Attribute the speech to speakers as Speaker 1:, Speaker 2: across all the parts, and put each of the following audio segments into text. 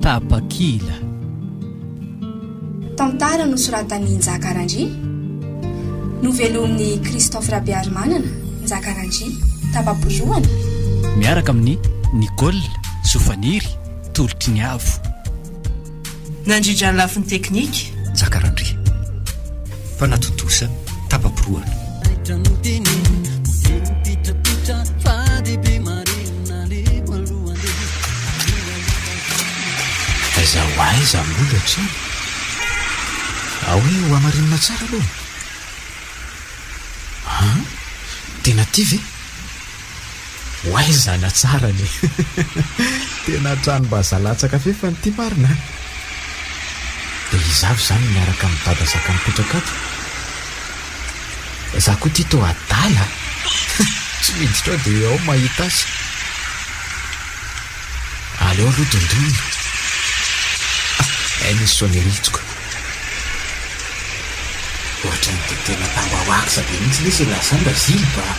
Speaker 1: Tapakila
Speaker 2: Tantara nosoratan'i Njaka Randria Novelomin'i Christophe Rabearimanana, Njaka Randria, Tapa-borohana Miaraka
Speaker 1: amin'ny Nicole Sofaniry, Tolotry ny Avo.
Speaker 3: Nandrindra ny lafiny teknika. Jaka Randria.
Speaker 4: Mpanatontosa tapa-porohana. Taitra no teneno, poteny pitrapitra, fa dia be marina, aleko aloha andeha. Aiza ho aiza amin'ny olona hatrany? Ahoy ho hamarinina tsara aloha? An? Tena tia ve? Oay zana tsara anie. Tena tranombazaha latsaka fefany ity marina an! Dia izaho izany miaraka amin'i Dada zaka mipetraka ato. Izaho koa ity toa adala a! Tsy miditra ao dia ao mahita azy. Aleo aloha dondonina. Hay misy sonnerie hitsoka. Ohatran'ny dia tena tambahoaksa be mihitsy lesy i Lazara, Zilba
Speaker 5: a!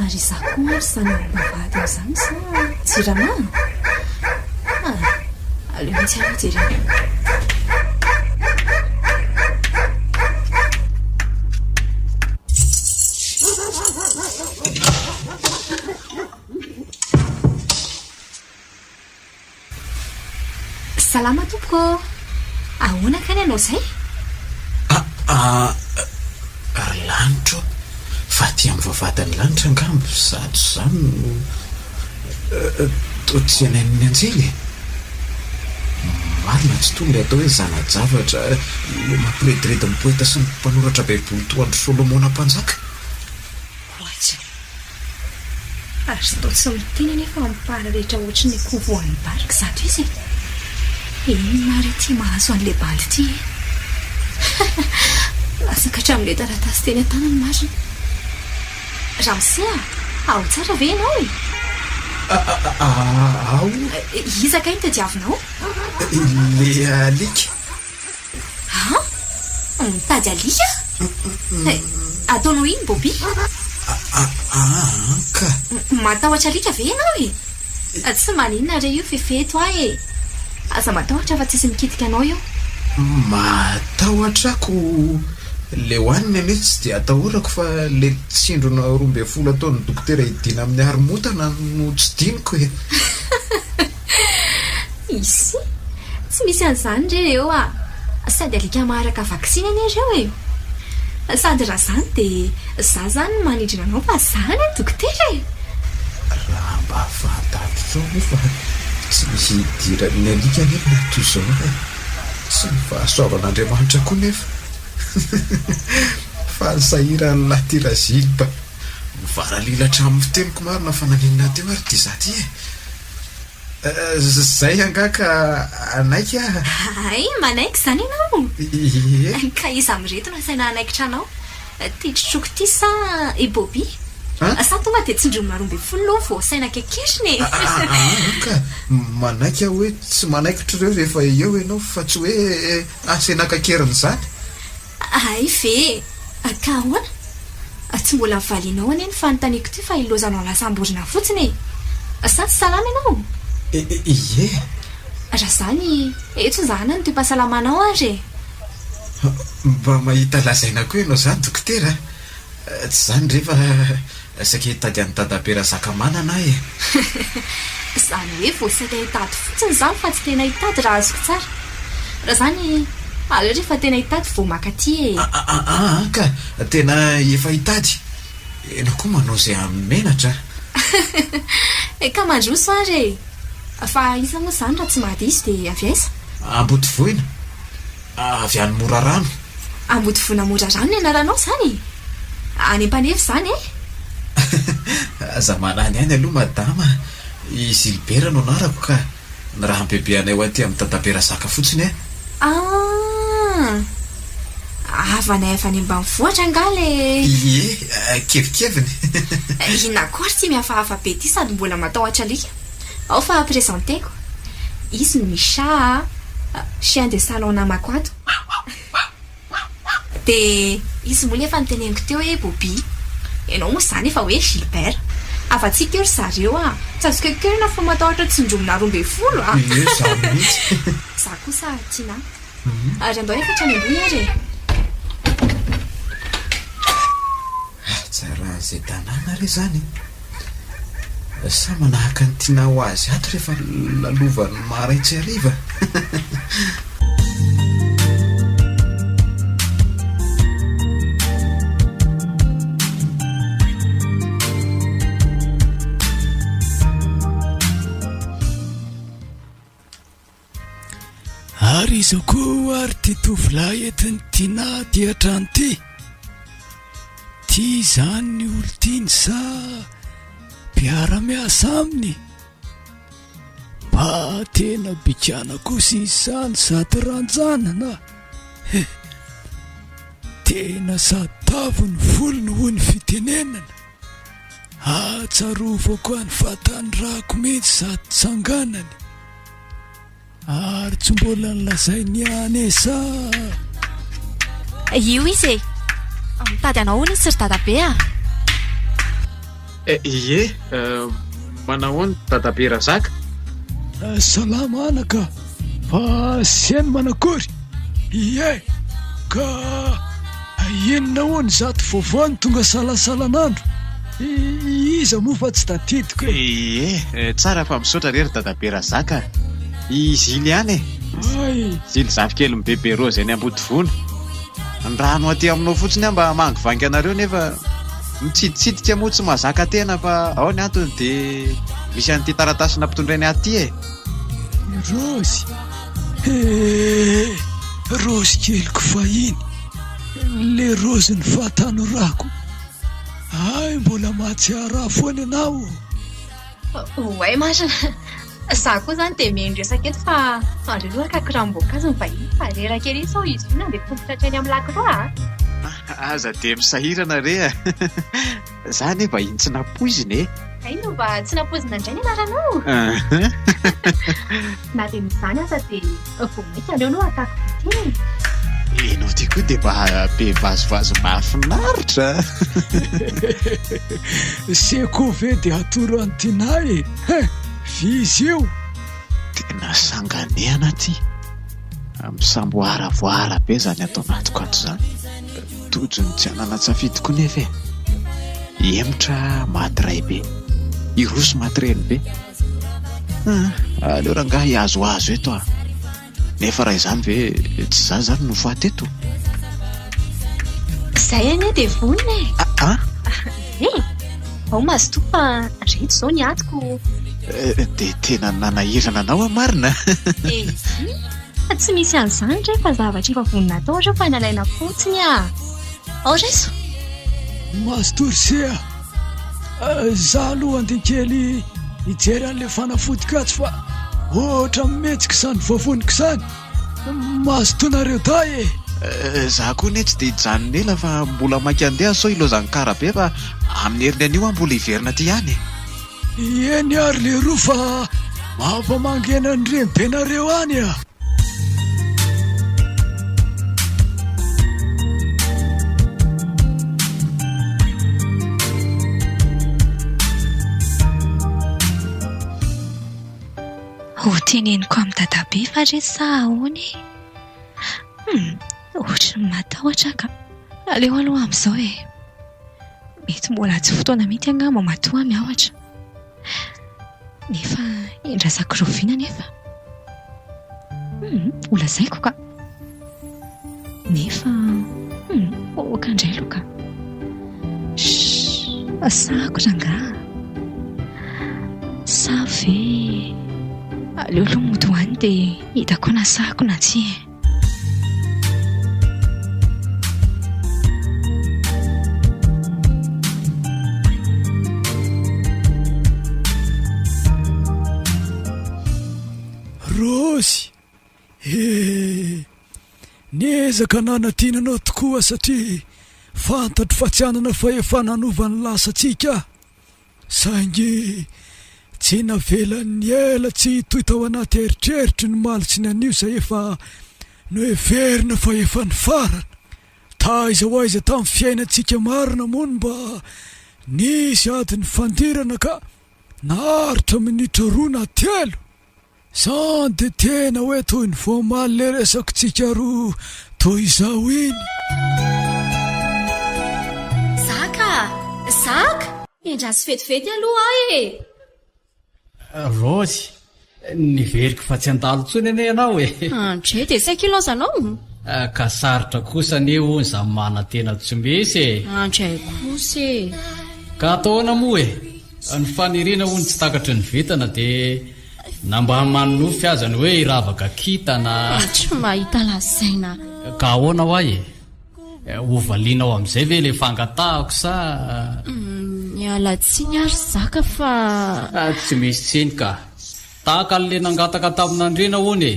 Speaker 5: Ary izaho koa ary samy hanana vady amin'izany sa jirama? Ah, aleo mihitsy aloha jerena. Salama tompoko ô! Ahoana kay ny anao izay? Aa,
Speaker 4: ry lanitra ô! Fa aty amin'ny vavahadan'ny lanitra angamba izato izany no. Toetsainan'ny anjely e! Marina tsy toa ilay atao hoe zana-javatra, ilay mampirediredy ny poeta sy ny mpanoratra Baiboly toa an-dry Solomona Mpanjaka. Ho
Speaker 5: atsy aho. Azo atao tsy miteny anefa amin'ny mpahary rehetra hoatry ny akoho voan'ny barika izato izy e! Inona àry ity mahazo an'ilay bandy ity e? Latsaka hatramin'ilay taratasy teny an-tanany marina. Ramose a! Ao tsara ve ianao e?
Speaker 4: Ao. Iza kay no
Speaker 5: tadiavinao? Ilay
Speaker 4: alika. Ha?
Speaker 5: Mitady alika? Ataonao inona Bobi? An
Speaker 4: ka. Matahotra alika
Speaker 5: ve ianao e? Tsy maninona re io fefeto ahy e! Aza matahotra fa tsisy mikitika anao io. Matahotra
Speaker 4: ako leo any ny anio tsy dia atahorako fa le tsindrona roa ambin'ny folo ataon'ny dokotera hidiana amin'ny haromotana no tsy diniko e!
Speaker 5: Isi! Tsy misy an'izany re eo a! Sady alika maharaka vaksiny anie ireo e! Sady raha izany dia za izany no manidrina anao fa za anie ny dokotera e! Raha
Speaker 4: mba fantaritrao moa fa tsy misy idiran'ny alika anie ny antony izaona e! Tsy ny fahasoavan'Andriamanitra koa nefa! Fa ny sahiran'ilay Tirazylipa! Mivaralilatra amin'ny fiteniko marina fa naninona teo ary ity za ity e! Zay angaha ka hanaiky aho? Hay,
Speaker 5: manaiky izany ianao? Ie. Ka iza amin'ireto no asaina hanaikitra anao? Ity trotroko ity sa i Bobby? An? Sa tonga dia tsindriny maro ambin'ny folo aloha vao asaina kekerina e? Ahaa ka,
Speaker 4: manaiky aho hoe tsy manaikitra ireo rehefa eo ianao fa tsy hoe asaina kakerina izany. Hay
Speaker 5: ve e! Ka ahoana? Tsy mbola valianao anie ny fanontaniako ity fa ilaozanao lasam-borona fotsiny e! Sa tsy salama ianao? Ie! Raha izany, eto izaho nanoty am-pahasalamanao ary e!
Speaker 4: Mba mahita lazaina koa ianao izany dokotera a! Tsy izany re fa. Saika hitady an'i Dadabe Razakamanana aho e!
Speaker 5: Izany hoe vao saika hitady fotsiny izany fa tsy tena hitady raha azoko tsara. Raha izany, aleo rehefa tena hitady vao maka aty e! Aa ka!
Speaker 4: Tena efa hitady? Enao koa manao izay amin'ny menatra a!
Speaker 5: He ka mandroso ary e! Fa aiza moa izany raha tsy mahadiso dia avy aiza? Ambodivohina.
Speaker 4: Avy any Morarano. Ambodivona
Speaker 5: Morarano ny anaranao izany e! Any Ampanefy izany e! Aza
Speaker 4: manany aina aloha madama a! I Gilbert no anarako ka! Ny raha ampiabeanay ho aty amin'i Dadabe Razaka fotsiny a! Ah!
Speaker 5: Havanay avy any ambanivohitra angaha ilay. Ie,
Speaker 4: kevikeviny. Inona
Speaker 5: akory ity mihafahafa be ity sady mbola matahotra alika? Ao fa presenteko. Izy no Misha a, chien de salon namako ato. Dia izy moa no efa noteneniko teo hoe Bobi. Ianao moa izany efa hoe Gilbert. Havatsiako eo ry zareo a. Tsy azo keokeoina fa matahotra tsindromina roa ambin'ny folo a. Ie izaho mihitsy.
Speaker 4: Izaho kosa
Speaker 5: Tina. Ary andao efa hatrany ambony ary e. Hatsaran'izay
Speaker 4: tanàna re izany e. Sa manahaka an'i Tinah ho azy ato rehefa lalovan'ny maraitsy hariva?
Speaker 1: Ary izao koa ary ity tovolahy entin'i Tiana aty an-trano ity, tia izany ny olon-tiany sa mpiara-miasa aminy? Mba tena bikàna kosa izy izany sady ranjanana a! He! Tena sady tavy ny volony hoy ny fitenenana. Ahatsiarovako an'i Vatanirako mihitsy sady tsanganany. Ary tsy mbola nolazainy ihany e sa?
Speaker 5: Io izy e! Mitady anao hono izy ry dadabe a!
Speaker 6: Eh, ie, manahoana dadabe Razaka?
Speaker 1: Salama anaka, fa sy hainy manakory? Ie, ka. Enina hono izato vaovao no tonga salasalan'andro. Iza moa fa tsy tadidiko e! Ee,
Speaker 6: tsara fa misaotra re ry Dadabe Razaka a! I Zily ihany e! Ay! Zily zafikelin'i Bebe Rose eny Ambodivona. Ny rà no aty aminao fotsiny aho mba hamangivangy anareo nefa mitsiditsidika moa tsy mahazaka tena fa ao ny antony dia misy an'ity taratasy nampitondrainy ahy ity e!
Speaker 1: Rose! Eh! Rozy keliko fahiny, le rozin'ny fahatanorako, hay mbola mahatsiaro ahy foana ianao ô!
Speaker 5: Oay marina, za koa zany dia mihaino resaka eto fa andreo aloha haka kiram-boankazo ny vahiny fa reraka ery sao izy io nandeha tongotra hatreny amin'ny lakroa a! Aza
Speaker 6: dia misahirana re a! Za anie vahiny tsy nampoizina e. Hay no mba
Speaker 5: tsy nampoizina indray ny anaranao. Na dia misy izany aza dia vao mainka aleo aloha
Speaker 6: ataoko bitin. Ianao ty koa dia mba be vazivazy mahafinaritra.
Speaker 1: Seko ve dia atoro an'i Tina e? Hein, f'izy io. Tena
Speaker 6: sanganehana ty. Misamboaravoara be izany ato anatiko ato izany. Tojo ny tsy hanana-tsafidy koa nefa e! Hihemotra maty ray be, hiroso maty reny be. Ah, aleo rangahy hihazohazo eto ah! Nefa raha izany ve tsy za zany no faty eto?
Speaker 5: Zay anie dia vonona e! Ah ah! Ve? Ao mazotoa fa reto izao ny atiko. Eh, dia
Speaker 6: tena nanahirana anao aho marina? Eh, izy!
Speaker 5: Fa tsy misy an'izany re fa zavatra efa vonona atao ireo fa nalaina fotsiny a! Ao raiso!
Speaker 1: Mastorsy a! Izaho aloha handeha kely hijery an'ilay fanafody katsy fa ohatra mihetsika izany vovoniko izany! Mastonareo dahy e! Izaho koa
Speaker 6: anie tsy dia hijanona ela fa mbola maika handeha sao ilozan'ny kara be fa amin'ny heriny anio aho mbola hiverina aty ihany e! Eny
Speaker 1: ary leroa fa mava mangena ny renibenareo any a!
Speaker 5: Ho teneniko amin'i dadabe fa re sa ahoana e? Hum, ohatran'ny matahotra aho ka. Aleo aloha amin'izao e. Mety mbola tsy fotoana mihitsy angamba matoa mianatra nefa endrasako rahoviana nefa? Holazaiko ka! Nefa ok indray aloha ka! Shhh! Asako rangaha! Sa ve aleo aloha mody ho any dia hita koa nasako na tsia e!
Speaker 1: Rosy eh niezaka nanadina anao tokoa aho satria fantatro fa tsy hanana fahefana hanova ny lasantsika aho. Saingy tsy navelany niela tsy hitohy tao anaty eritreritry ny Malitsiny anio izay efa noheverina fa efa nifarana. Taiza ho aiza tamin'ny fiainantsika marina moa no mba nisy ady nifandirana ka naharitra minitra roa na telo? Zany de tena hoe toy ny voamaly le resako tsika roa toy izao iny.
Speaker 5: Zaka! Endraso vetivety aloha aho e!
Speaker 7: Rose, niveriko fa tsy handalo intsony anie ianao e! Andre, dia saika
Speaker 5: ilaozanao? Ah, ka
Speaker 7: sarotra kosa anie hono izany manantena tsy misy e! Andre kosa
Speaker 5: e! Ka atao
Speaker 7: ahoana moa e? Ny faniriana hono tsy takatry ny vintana dia na mba hamany nofy aza ny hoe hiravaka kintana. Tsy mahita
Speaker 5: lazaina. Ka ahoana ho
Speaker 7: ahy e? Ho valianao amin'izay ve ilay fangatahako sa. Miala tsiny
Speaker 5: ary zaka fa. Tsy misy
Speaker 7: tsiny ka. Tahaka an'le nangataka tamin'Andriana hono e!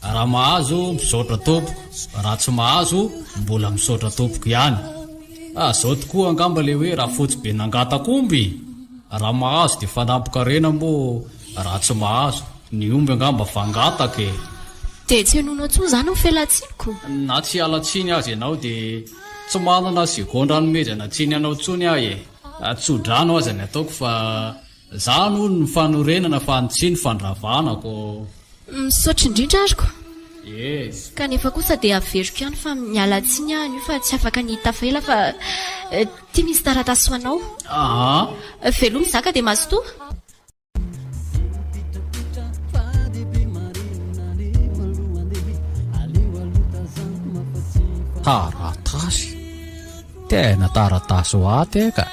Speaker 7: Raha mahazo, misaotra tompoko, raha tsy mahazo, mbola misaotra tompoko ihany. Ah, zao tokoa angamba le hoe rafotsy be nangataka omby! Raha mahazo de fanampikarena moa raha tsy mahazo, ny omby angamba vangataka e! De tsy henoina
Speaker 5: tsony zany ny felatsiniko? Na tsy hiala
Speaker 7: tsiny aza ianao de tsy manana segondra hanomezana tsiny anao tsony aho e! Tso-drano aza ny ataoko fa Zany hono ny fanorenana fa ny tsy ny fandravana ko. Misaotra
Speaker 5: indrindra ary ko. Yes.
Speaker 7: Kanefa kosa
Speaker 5: dia averiko ihany fa miala tsiny aho anio fa tsy afaka ny hitafa ela fa ity misy taratasy ho anao. Aa. Veloma zaka dia mazotoa.
Speaker 4: Taratasy? Tena taratasy ho ahy ity ka.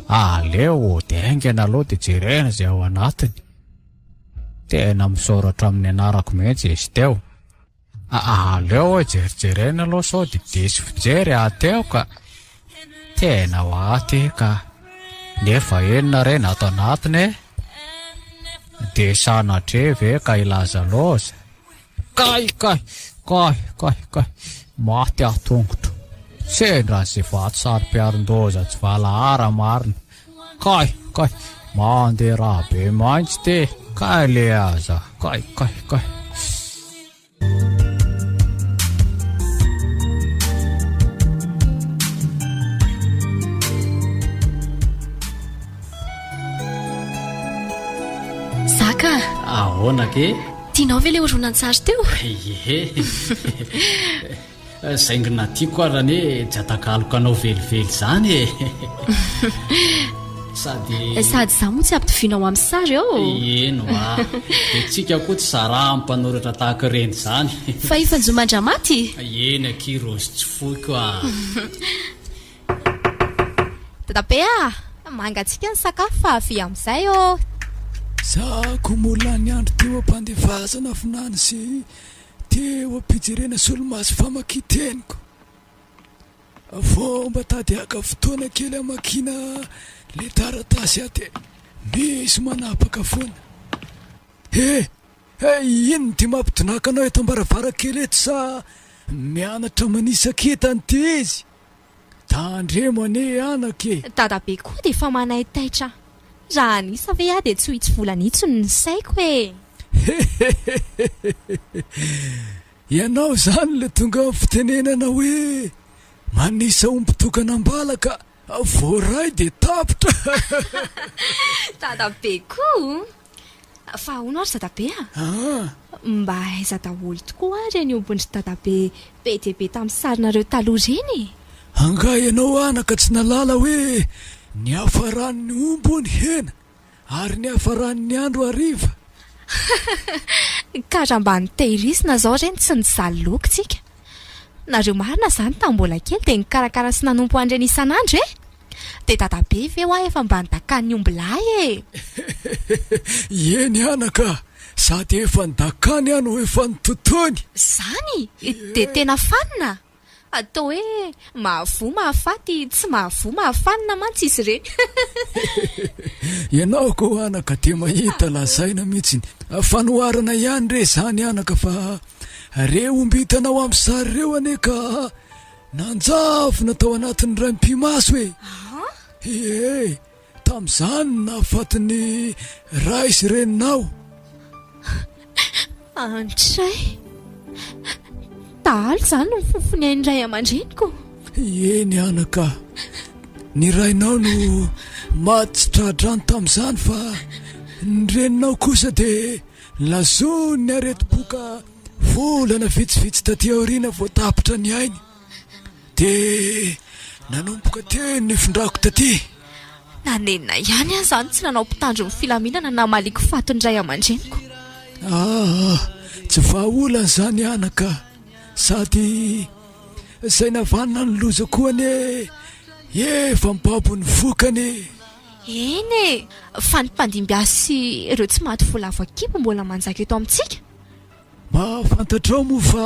Speaker 4: Aleo dingana aloha dia jerena izay ao anatiny. Tena misaora hatramin'ny nianarako mihitsy izy teo. Aleo hoe jerijerena aloha sao dia diso fijery aho teo ka. Tena ho ahy ity ka. Nefa inona re ny ato anatiny e? Dia sanatria ve ka hilaza loza? Kay kay kay kay kay maty aho tongotro sendra an'izay vato saropiarin-doza tsy valahara marina kay kay mandeha raha be maintsy te kay le aza kay kay kay
Speaker 5: Zaka! Ahoana
Speaker 7: ke? Tianao ve ilay
Speaker 5: horonantsary teo? Ehe.
Speaker 7: Zaingina tiako ary anie tsy atakaloko anao velively izany e. Sady Sady izaho moa tsy
Speaker 5: ampitovianao amin'ny sary ao. Eno a.
Speaker 7: Dia tsika koa tsy zaraha amin'ny mpanoratra tahaka ireny izany. Fa efa njo
Speaker 5: mandramaty? Eny akia
Speaker 7: Rozy tsy foiko a.
Speaker 8: Dadabe a! Mangatsiaka ny sakafo fa avia amin'izay ô! Za
Speaker 1: ko moa lany andro teo ampandevazana vinany sy teo ampijerena solomaso famakian-teniko. Avô mba tady haka fotoana kely hamakiana le taratasy aty misy manapaka foana. He! Hey! Inona ty mampidonaka anao eto ambaravarankely eto sa mianatra manisa kintana ty izy? Tandremo anie anaka e! Dadabe koa dia
Speaker 8: efa manaitaitra Raha an'isa ve aho dia tsy ho itsy volana itsy no nisaiko e! Hehehehehehe!
Speaker 1: Ianao izany ilay tonga amin'ny fitenenana hoe manisa omby tokana am-bala ka voaray dia tapitra!
Speaker 8: Dadabe koa! Fa ahoana ary Dadabe a? Mba aiza daholo tokoa ary ireny ombin-dry Dadabe be dia be tamin'ny sarinareo taloha ireny e? Angaha ianao
Speaker 1: anaka tsy nahalala hoe niafaran'ny omby hono hena ary niafaran'ny andro hariva?
Speaker 8: Ka raha mba nitehirizina izao ireny tsy nizaly loky tsika. Nareo marina zany tam mbola kely dia nikarakara sy nanompo an'ireny isan'andro e! Dia dadabe ve hoa efa mba nidakan'ny omby lahy e! Eny
Speaker 1: anaka a! Sady efa nidakany aho no efa nototoiny! Zany?
Speaker 8: Dia tena fanina? Toa hoe Mahavoa mahafaty tsy mahavoa mahafanina mantsy izy ireny.
Speaker 1: Ianao ko anaka dia mahita lazaina mihitsiny. Fanoharana ihany re izany anaka fa re omby hitanao amin'ny sary ireo anie ka nanjavona tao anatin'ny raim-pimaso e! Ahh! Iee! Tamin'izany no nahafaty ny ray sy reninao.
Speaker 8: Andray!
Speaker 1: Dahalo izany
Speaker 8: no fofony ahy ny ray aman-dreniko.
Speaker 1: Eny
Speaker 8: anaka,
Speaker 1: ny rainao no maty tsy tra-drano tamin'izany fa ny reninao kosa dia lazon'ny aretim-po ka volana vitsivitsy taty aoriana vao tapitra ny ainy. Dia nanomboka teny ny findrako taty. Na nenina
Speaker 8: ihany aza aho tsy nanao mpitandro ny filaminana namaliako faty ny ray aman-dreniko. Aa!
Speaker 1: Tsy vahaolana izany anaka a! Sady izay navanona ny loza koa anie efa mibabo ny vokany e! Eny
Speaker 8: e! Fa ny mpandimby azy sy ireo tsy maty voalavo an-kibo mbola manjaka eto amintsika. Mahafantatrao
Speaker 1: moa fa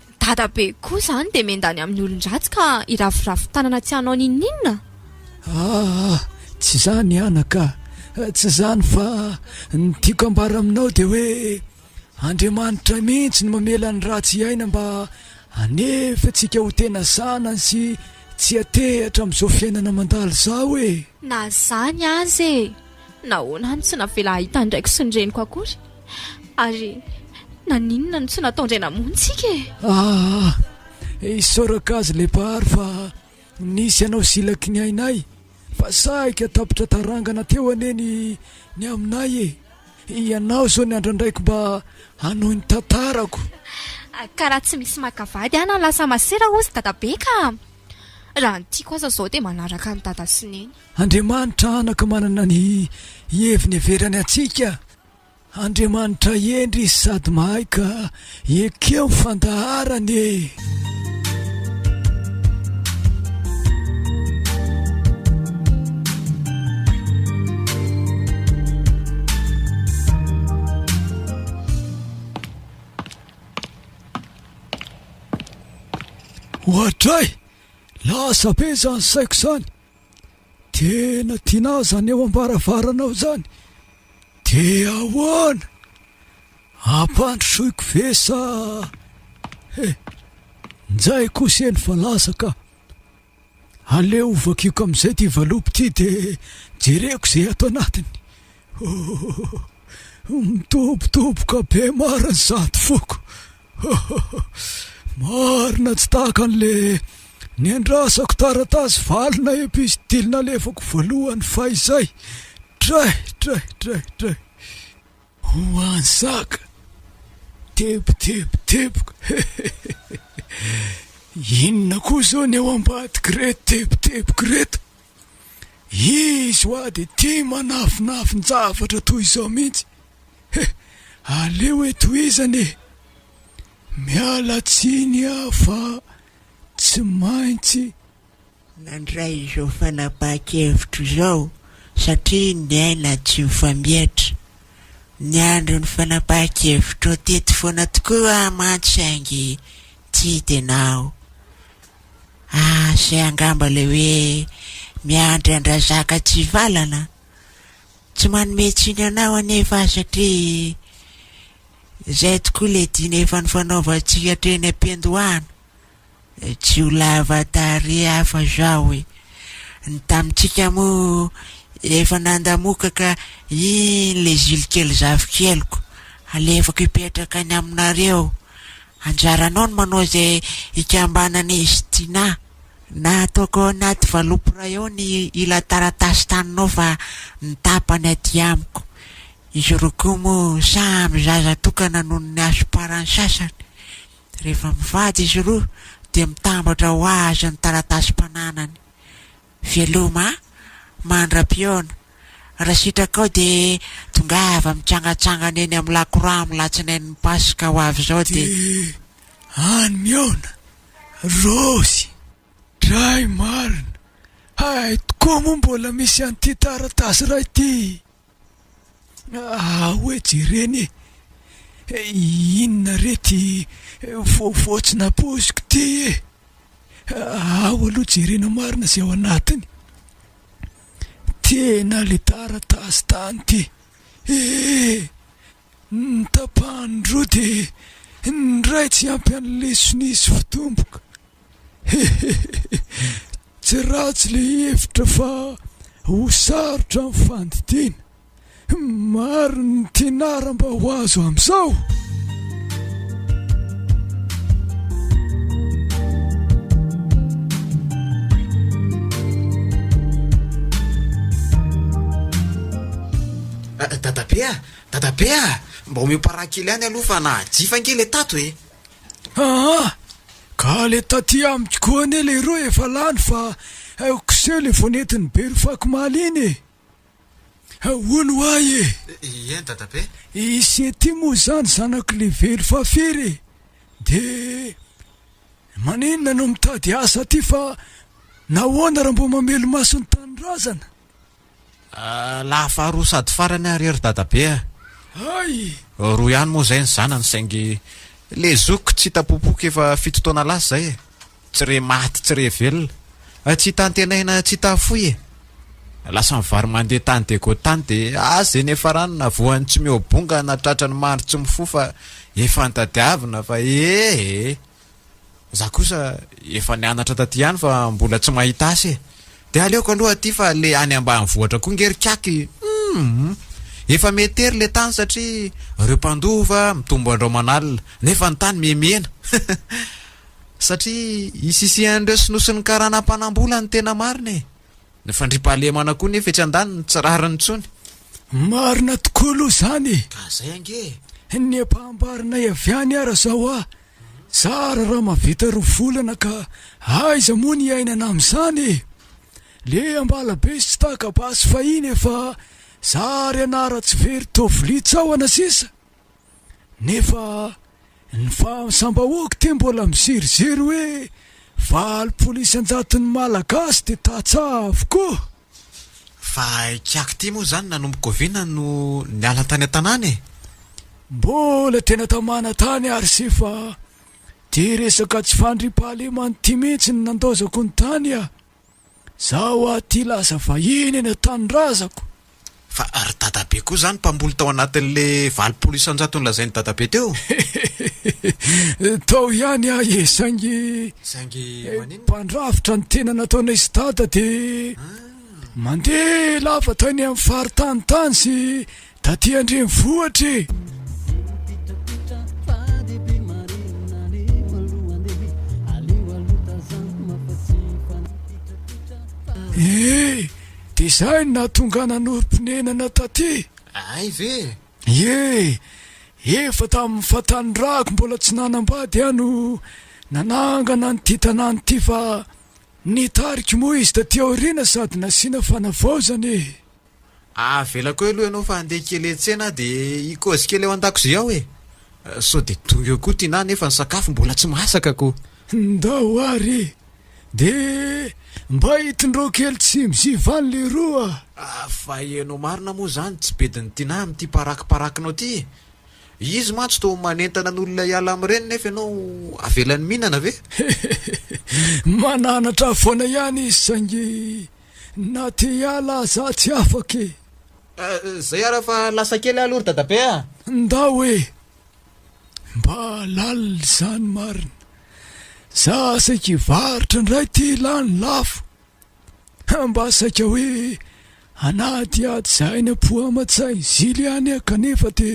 Speaker 1: Dadabe
Speaker 8: koa zany dia mendany amin'ny olon-dratsy ka hiraviravy tanana tsy hanao n'inon'inona? Aa!
Speaker 1: tsy izany anaka a! tsy izany fa ny tiako ambara aminao dia hoe Andriamanitra mihitsy no mamela ny ratsy hiaina mba hanefa antsika ho tena zanany sy tsy hatehatra amin'izao fiainana mandalo izao e! Na izany
Speaker 8: aza e! Nahoana no tsy navela hahita ny raiko sy ny reniko akory? Ary naninona no tsy nataon-dray namonjika e? Aa! Isaorako azy
Speaker 1: ilay Mpahary fa nisy ianao silaky ny ainay fa sahika tapitra tarangana teo anie ny ny aminay e! Ianao izao ny andrandraiko mba hanohy ny tantarako. Ka
Speaker 8: raha tsy misy maka vady aho na lasa masera hozy Dadabe ka! Raha ny tiako aza izao dia manaraka an'i Dada sy Neny. Andriamanitra anaka
Speaker 1: manana ny heviny heverany antsika, Andriamanitra hendry izy sady mahay ka ekeo ny fandaharany e! Oadray! Lasa be zany saiko zany. Tena tianao izany eo am-baravaranao izany? Dia ahoana? Ampandrosoiko ve sa? He, njay kosa eny fa lasa ka. Aleo hovakiko amin'izay ity valopy ity dia jereko izay ato anatiny. Oh, mitobotoboka be marina zato foko. Marina tsy tahaka an'le niandrasako taratasy valona epistil nalefako voalohany fahizay. Dray, dray, dray, dray. Ho an'i Zaka. Tebo, tebo, teboka. Inona koa izao ny eo ambadik'ireto tebo, teboka ireto? Izy hoa dia tia manafinafin-javatra toy izao mihitsy. he aleo e tohizana e! miala tsiny aho fa tsy maintsy
Speaker 9: nandray izao fanapahan-kevitro izao satria niaina tsy mifamietra, niandry ny fanapahan-kevitrao teto foana tokoa aho mantsy saingy tsy hita ianao ah, se angamba le hoe miandry an-drazaka tsy hivalana? Tsy manome tsiny anao anefa aho satria izay tokoa ilay diana efa nifanaovantsika teny am-piandohana. Tsy ho lava tarehy aho fa izao e! Ny tamintsika moa efa nandamokaka iny ilay zilikely zafikeliko, alefako hipetraka any aminareo. Anjaranao ny manao izay hikambanan'izy Tiana. Nataoko ao anaty valopy iray ao ny ila taratasy taninao fa ny tapany aty amiko. Izy roa koa moa samy zaza tokana noho ny hasomparan'ny sasany. Rehefa mivady izy roa dia mitambatra ho azy ny taratasim-pananany. Veloma a! Mandra-pihaona. Raha sitrakao dia tongava mitsangatsangana eny amin'ny lakoramy latsinain'ny Paska ho avy izao dia. any
Speaker 1: mihaona Rossy. Dray marina, hay tokoa moa mbola misy an'ity taratasy iray ity ah, hoe jerena e, inona re ty vaovao tsy napoiziko ty e, ao aloha jerena marina izay ao anatiny, tena le taratasy tany ty eh. Ny tapahany roa dia ny iray tsy ampy an'ny lesona izy vao tomboka. Hehehehe. Tsy ratsy ilay hevitra fa ho sarotra ny fandidiana. Maro ny tnara mba ho azo amin'izao.
Speaker 4: Dadabe ah, Dadabe a! Mba omeo parent kely ihany aloha fa na jifa ange le tato e! Aa! Ka
Speaker 1: le taty amiko koa anie le roa efa lany fa aiko seho le vao nentin'i Be ry Fakomaly iny e! Ahoana ho ahy e! Eny Dadabe!
Speaker 4: I Sety
Speaker 1: moa izany zanako le velo fa firy e! De maninona no mitady asa aty fa nahoana raha mbo mamelo maso ny tanindrazana? Lahy
Speaker 4: faharoa sady farany ary ry dadabe a! Hay!
Speaker 1: Roa ihany moa
Speaker 4: izay ny zanany saingy le zoky tsy hita popoky efa fito taona lasa izay e! Tsy re maty tsy re velona! Tsy hita antenaina tsy hita fohy e! Lasa mivary mandeha tany dia go tany dia ah ze niafarany na voan'ny tsy mihoa bonga na tratran'ny mandry tsy mifoha fa efa nitadiavina fa ee! Za kosa efa nianatra taty ihany fa mbola tsy mahita asa e! De aleoko aloha aty fa le any ambanivohitra koa nge ry kiaka e! Humm! Efa meter le tany satria reo mpandova mitombo andro aman'alina nefa ny tany mihemihena satria isisihan'ireo sinoa sy ny karana mpanambola ny tena marina e! Ny fandriampahalemana koa nefa etsy andaniny tsy rariny intsony. Marina
Speaker 1: tokoa aloha izany e! Ka zay ange
Speaker 4: e! Ny ampahambarinay
Speaker 1: avy any ara zao a! Zara raha mahavita roa volana ka aiza moa ny iainana amin'izany e! Le ambala be sy tsy taka basy fahiny efa zary anara tsy very toa vilia tsahona sisa nefa ny fahamsambahoako te mbola miziriziry hoe valopolo isan-jaton'ny malagasy de tantsaha avokoa! Fa
Speaker 4: kiaky ty moa zany nanomboka oviana no niala tany an-tanàna e? Mbola
Speaker 1: tena tamana tany ary se fa tia resaka tsy fandriampahalemana ity mihitsy no nandaozako ny tany a! Zaho aty lasa vahiny eny an-tanindrazako. Fa
Speaker 4: ry dadabe koa zany mpamboly tao anatin'le valopolo isanjato nolazain'i dadabe teo? Hehehehe, tao
Speaker 1: ihany aho e, saingy Saingy maninona? mpandrafitra ny tena nataonay sy dada dia mandeha lava tany amin'ny faritany tany sy taty an-drenivohitra e! Ee! Dia izay no nahatonga ahy nanorim-ponenana taty. Hay ve e!
Speaker 4: Ie, efa
Speaker 1: tamin'ny fahatanorako mbola tsy nanambady aho no nanangana an'ity tanàna ity fa nitarika moa izy taty aoriana sady nasiana fanavaozana e! Avelako
Speaker 4: eo aloha ianao fa handeha kely hiantsena aho dia hikozy kely ao an-dakozia ao e! Sao dia tonga eo koa Tiana nefa ny sakafo mbola tsy masaka ko! Ndao ary
Speaker 1: e! De mba hitondrao kely tsimo sy valo leroa a! Ah fa ianao
Speaker 4: marina moa izany tsy bedin'i Tinah amin'ity parakiparakinao ity e! Izy mantsy toa manentana ny olona hiala amin'ireny nefa ianao avelany mihinana ve? Hehehehe! Mananatra
Speaker 1: foana ihany izy saingy na te hiala aza tsy afaka e! Ah, izay
Speaker 4: ary fa lasa kely aho aloha ry dadabe a! Ndao e!
Speaker 1: Mba lalina izany marina. Za saika hivarotra indray ty lany lafo. Hum mba saika hoe anady ady zahay ny apoha aman-tsay zily ihany ah kanefa de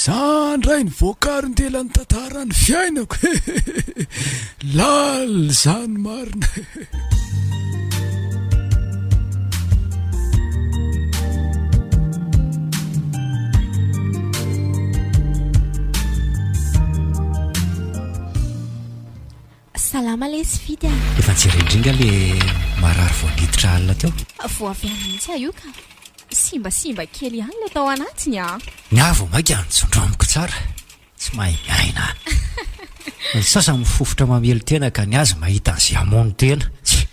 Speaker 1: za ndray ny voakaron dela ny tantaran'ny fiainako hehehehe. Lalina izany marina.
Speaker 8: salama le sy fity a efa jerendringa le
Speaker 10: marary voangiditra alina teo voavy any mihitsy
Speaker 8: a io ka simbasimba kely ihany le tao anatiny a ny avo maika
Speaker 10: anjondro amiko tsara Tsy mahay miaina an. Ny sasany mifofotra mamely tena ka ny azy mahita an'izay hamono tena. Tsia.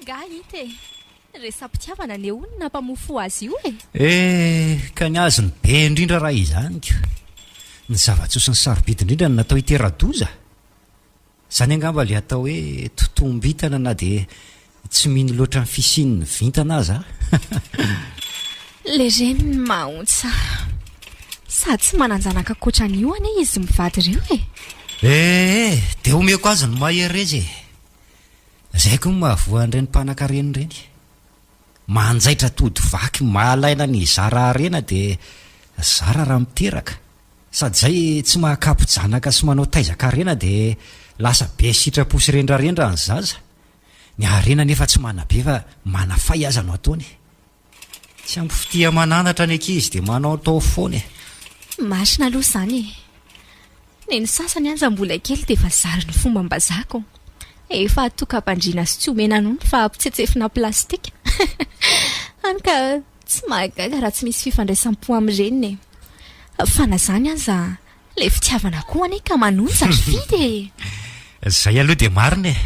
Speaker 8: Ngah hita e. Resa-pitiavana anie hono nampamofo azy io e. Eh, ka ny
Speaker 10: azy no be indrindra raha izany ka. Ny zava-tsoa sy ny sarobidy indrindra no natao hitera-doza. Izany angamba ilay atao hoe totoam-bintana na dia tsy mino loatra ny fisian'ny vintana aza
Speaker 8: an! Ilay reny
Speaker 10: mahaontsa.
Speaker 8: Sady tsy manan-janaka ankoatra an'io anie izy mivady ireo e! Ee,
Speaker 10: dia omeko azy ny mahereza e! Izay koa no mahavoa an'ireny mpanankarena ireny. Manjaitra tody vaky mahalaina ny hizara harena dia zara raha miteraka. Sady zay tsy mahakapy janaka sy manao taiza karena dia lasa be sitrapo sy rendrarendra ny zaza, ny harena nefa tsy manabe fa manafay aza no ataony e! Tsy ampy fitia mananatra ny ankizy dia manaotao foana e! Marina
Speaker 8: aloha izany e! Neny sasany aza mbola kely dia efa zary ny fombam-bazako, efa atokam-pandriana sy tsy omena nono fa ampitsetsefina plastika, hany ka. Tsy mahagaga raha tsy misy fifandraisam-po amin'ny reniny e! Fa na izany aza, ilay fitiavana koa anie ka manonja ry Fid e! Izay
Speaker 10: aloha dia marina e!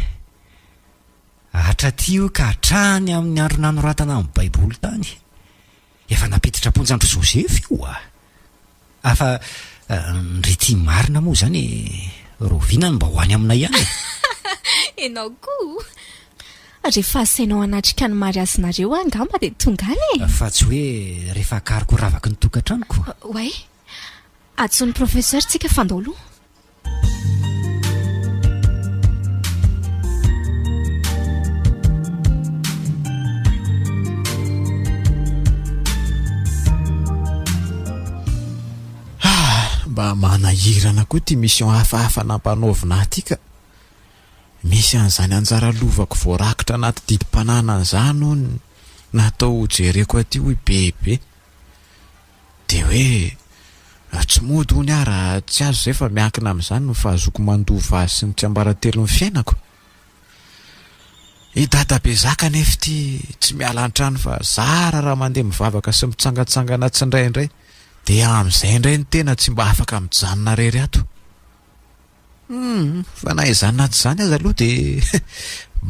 Speaker 10: Hatraty io ka hatrany amin'ny andro nanoratana ny Baiboly tany, efa nampiditra am-ponja an-dry Joseph io. Afa ndry tia marina moa izany e! Raoviana no mba ho any aminay ihany e! Enao
Speaker 8: koa! Rehefa asainao hanatrika ny mariazinareo aho angamba dia tonga any e! Fa tsy hoe
Speaker 10: rehefa akariko ravaky ny tokantranoko. Oay!
Speaker 8: Antso ny professeur tsika fandao loha.
Speaker 6: manahirana koa ty mission hafahafa nampanaovina aty ka misy an'izany anjara lovako voarakitra anaty didim-pananana izany hono natao hojereko aty hoy bebe Dia hoe, tsy mody hono aho raha tsy azo izay fa miankina amin'izany ny fahazoako mandova azy sy ny tsiambaratelon'ny fiainako. I dadabe zaka anefa ity tsy miala an-trano fa zara raha mandeha mivavaka sy mitsangantsangana tsindraindray dia amin'izay indray ny tena tsy mba afaka mijanona rery ato. Hmm, fa na izany na tsy izany aza aloha dia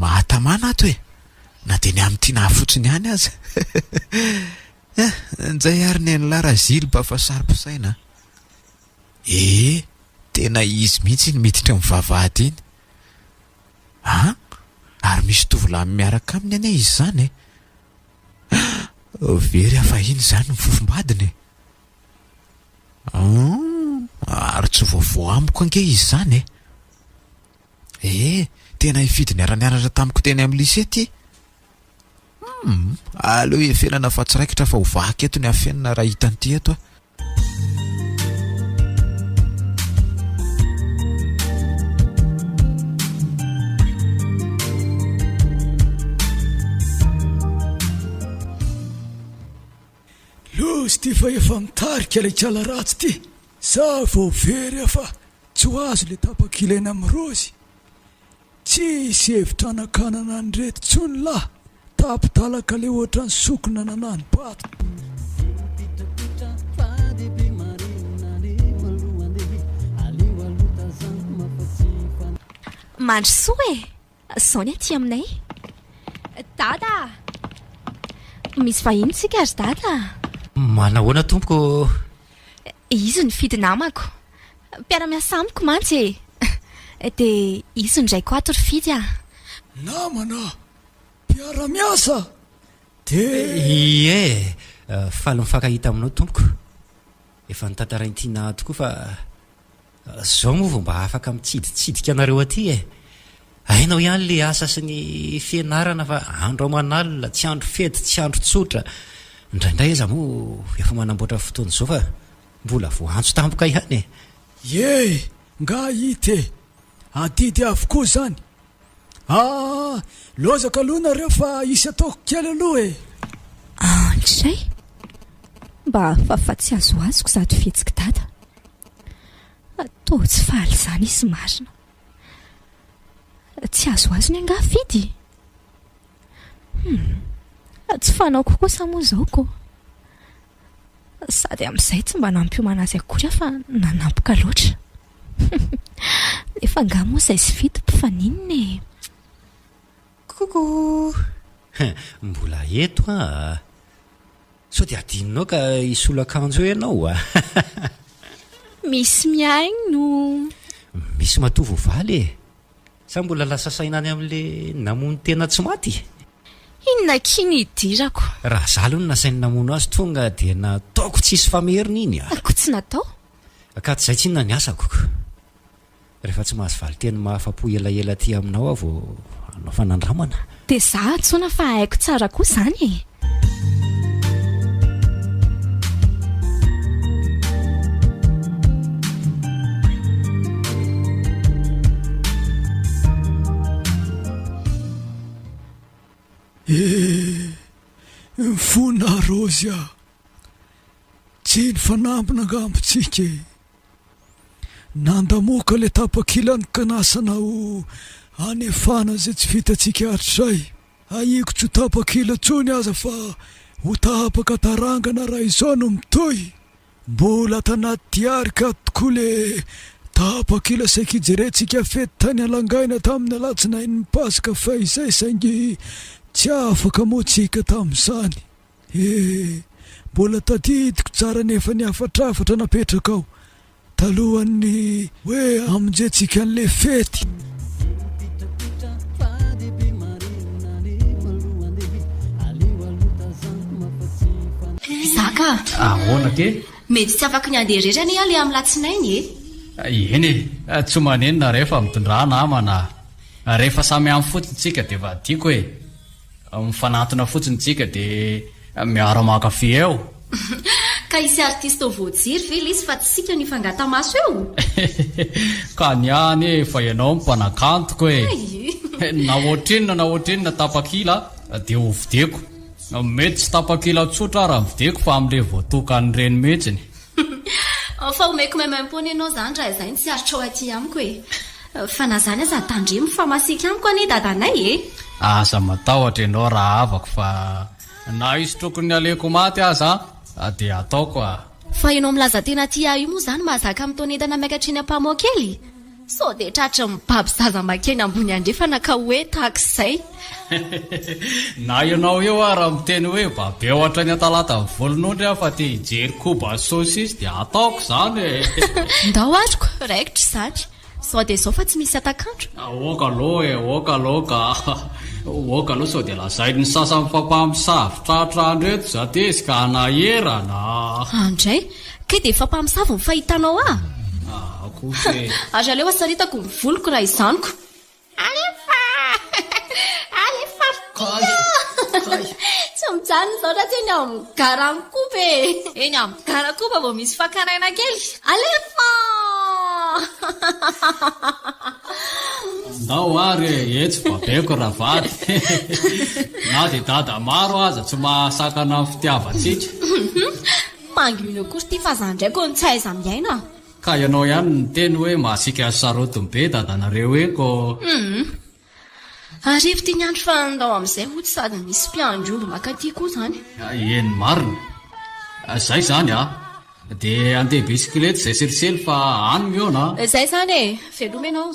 Speaker 6: mahatamana ato e. Na dia ny amin'ny tiana fotsiny ihany aza. Eh! Njay ary nenla Razilba fa saro-pisaina a! Ee! Tena izy mihitsy iny miditra amin'ny vavahady iny a! Ary misy tovolahiny miaraka aminy anie izy izany e! Ah! Very aho fahiny izany ny fofombadiny e! An! Ary tsy vaovao amiko ange izy izany e! Ee! Tena hifidy niara-nianatra tamiko teny amin'ny lycée ity Humm! Aleo efenana fa tsy raikitra fa ho vaky eto ny afenina raha hita an'ity eto a!
Speaker 1: Loza ity fa efa nitarika ilay kala ratsy ity. Za vao very aho fa tsy ho azo ilay tapaka ilaina amin'ny rozy. Tsy hisy hevitra hanakanana an'ireto intsony lah! Tapi-talaka le ohatran'ny sokina nanano bato.
Speaker 8: Mandry soa e! Zao ny aty aminay. Dada a! Misy vahiny isika ry Dada a! Manahoana
Speaker 10: tompoko?
Speaker 8: Izy nifidy namako. Mpiara-miasa amiko mantsy e! Dia hisy ny raiko ato ry Fidy a! Namana!
Speaker 1: Mpiara-miasa! Dia.
Speaker 10: Ie! Faly mifankahita aminao tompoko! Efa notantarain'ity Naha tokoa fa zao moa vao mba afaka mitsiditsidika anareo aty e! Hainao ihany le asa sy ny fianarana fa andro aman'alina, tsy andro fety, tsy andro tsotra, indraindray aza moa efa manamboatra fotoana izao fa. Mbola voaantso tampoka ihany e! Ieh!
Speaker 1: Nga it e! Adidy avokoa izany! Aah! Lozaka aloha nareo fa hisy ataoko kely aloha e! Andray!
Speaker 8: Mba afafa tsy azoazoko zato fihetsiki dada! Toa tsy faly izany izy marina! Tsy azoazony angaha fidy? Humm! Tsy fanaoko kosa moa izao ko! Sady amin'izay tsy mba nampiomana azy akory aho fa nanampoka loatra. Nefa angaha moa izay sy fito mpifaninona e!
Speaker 10: Coucou! Mbola eto aho a! Sao dia adinonao ka hisolo akanjo eo ianao a!
Speaker 8: Misy mihaino!
Speaker 10: Misy matoa voavaly e! Sa mbola lasa saina any amin'le namono tena tsy maty? Inona
Speaker 8: akia ny hidirako? Raha za aloha no
Speaker 10: nasainy namono azy tonga dia nataoko tsisy fameriny iny ah! Ko tsy natao?
Speaker 8: Ka tsy zay
Speaker 10: tsinona ny asako ko! Rehefa tsy mahazo valinteny mahafapo elaela aty aminao aho vao hanao fanandramana. Dia za atsoina
Speaker 8: fa haiko tsara koa zany
Speaker 1: e! Eh! Mifona Rozy ah! Tsy ny fanambina angamba tsika e! Nandamoaka ilay tapakilany ka nasana ho hanefana izay tsy vitantsika hatrizay. Ahiako tsy ho tapakila intsony aza fa ho tapaka tarangana raha izao no mitohy. Mbola ato anaty diary ka tokoa ilay tapakila saika ijerentsika fety tany Alangaina tamin'ny alatsinain'ny Paska fahizay saingy tsy afaka moa tsika tamin'izany. Ee, mbola tadidiko tsara anefa ny hafatrafatra napetrakao talohan'ny hoe hamonjentsika an'ilay fety.
Speaker 5: Zaka a! Ahoana kay?
Speaker 7: Mety tsy afaky ny
Speaker 5: handeha irery anie aho ilay amin'ny latsinainy e! Eny
Speaker 7: e, tsy manenina rehefa mitondrana amana. Rehefa samy any fotsiny isika dia vadiako e! Mifanantona fotsiny tsika de miara mankafy eo. Ka
Speaker 5: hisy artiste voajery ve lesy fa tsika no hifangata maso eo?
Speaker 7: Ka ny ahy anie efa ianao no mpanakantoko e! Na ohatrinona na ohatrinona tapakila dia ho videko. Mety tsy tapakila tsotra ara ny videko fa amin'ilay voatokan'ny reny mihitsiny.
Speaker 5: Fa homeko même impôt-ny ianao izany raha izay ny tsy aritrao aty amiko e! Fa na izany aza tandremo fa masiaka amiko anie dadanay e! Aza
Speaker 7: matahotra ianao rahavako fa na hisotroko ny nalehiko maty aza dia hataoko a! Fa ianao milaza
Speaker 5: tena tia ahy io moa izany mahazaka mitaona entana miakatra eny Ampahamoakely? Sao dia tratry ny mibaby zaza makeny ambony andrefana ka hoe tahaka izay.
Speaker 7: Na ianao eo ara miteny hoe babeo hatrany an-talata ny volon'ondry aho fa te hijery koba sy saucisse dia ataoko izany e! Ndao
Speaker 5: ary ko, raikitra izany. Sao dia izao fa tsy misy hatak'andro. Aoka aloha e, aoka aloha ka.
Speaker 7: Aoka aloha sao dia lazain'ny sasany fa mpamosavy tratra andro eto za tezitra ka hanahirana a! An-dray.
Speaker 5: Kay dia efa mpamosavy ny fahitanao ahy? Ary aleo hasaritako ny voloko raha izaniko. Alefa! Alefa ry Tina! Tsy mijanona izao raha tsy eny amin'ny Garankoba e! Eny amin'ny Garankoba vao misy fakana aina kely. Alefa!
Speaker 7: Ndao ary e! Etsy babeko raha vady. Na dia dada maro aza tsy mahasakana ny fitiavantsika.
Speaker 5: Mangy mino akory ty fa za ndray ko no tsy haiza miaina a! Ka ianao ihany
Speaker 7: niteny hoe mahasiaka azy sarotiny be dadanareo iny ko! Hum!
Speaker 5: Arivo ty ny andro fa ndao amin'izay hoy tsy sady misy mpiandry omby maka aty koa zany. Eny marina!
Speaker 7: Zay zany a! Dia andeha bisikileta izay selisely fa any mihaona a! Zay zany e!
Speaker 5: Veloma ianao!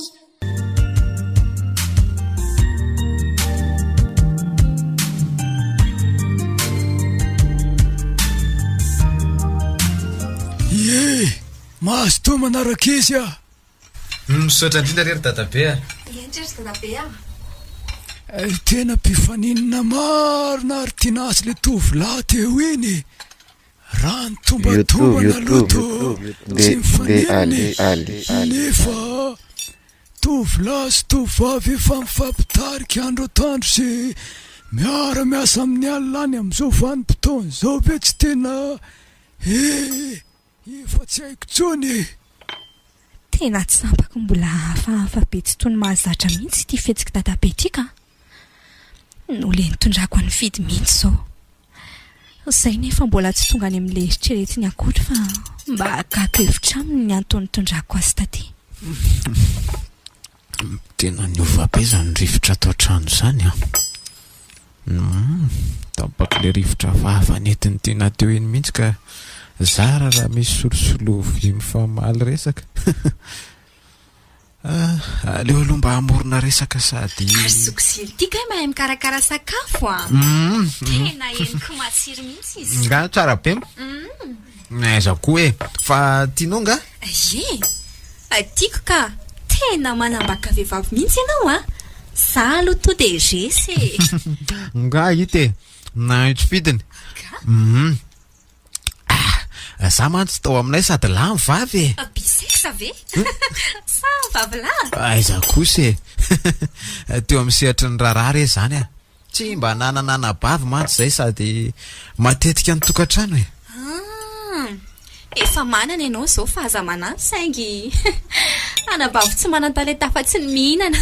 Speaker 1: Mazotoa manaraka izy ah.
Speaker 4: Misaotra indrindra rery dadabe ah. Indrindra
Speaker 1: ry dadabe ah. Eh, tena mpifaninana marina ary tiana azy le tovolahy teo iny. Raha ny tombatombana aloha toa tsy mifanena e, nefa tovolahy sy tovovavy efa mifampitarika andro atoandro sy miara miasa amin'ny alina any amin'izao vanim-potoana izao ve tsy tena ee efa tsy haiko intsony e.
Speaker 8: Tena tsy sampako mbola hafahafa be tsy toy ny mahazatra mihitsy ity fihetsik'i Dadabe ity ka! Noho ilay nitondrako an'i Fidy mihitsy izao. Izay nefa mbola tsy tonga any amin'ilay eritreretiny akory fa mba hakako hevitra aminy ny antony nitondrako azy taty.
Speaker 6: Tena niova be izany rivotra ato an-trano izany an! Tapaka ilay rivotra vava nentin'ity na teo iny mihitsy ka zara raha misy solosolo vy mifamaly resaka. Ah, aleo aloha mba hamorona resaka sady. Ary Zokiziry ity kay
Speaker 8: mahay mikarakara sakafo an! Tena henoko matsiro mihitsy izy. Nga tsara be.
Speaker 6: Aiza koa e! Fa tianao nga? Ie!
Speaker 8: Tiako ka! Tena manambaka vehivavy mihitsy ianao a! Za
Speaker 5: aloha toa dia resy e! Nga
Speaker 6: hita e! Nahaitso fidiny! Hum! Za mantsy tao aminay sady lahy no vavy e! Bisex ve?
Speaker 5: Sa vavy lahy? Aiza kosa e!
Speaker 6: Teo amin'ny sehatry ny raharaha re izany a! Tsy mba nanana anabavy mantsy zay sady matetika ny tokantrano e. Ah! Efa
Speaker 5: manana ianao izao fa aza manampy saingy anabavy tsy manan-talenta afa-tsy ny mihinana.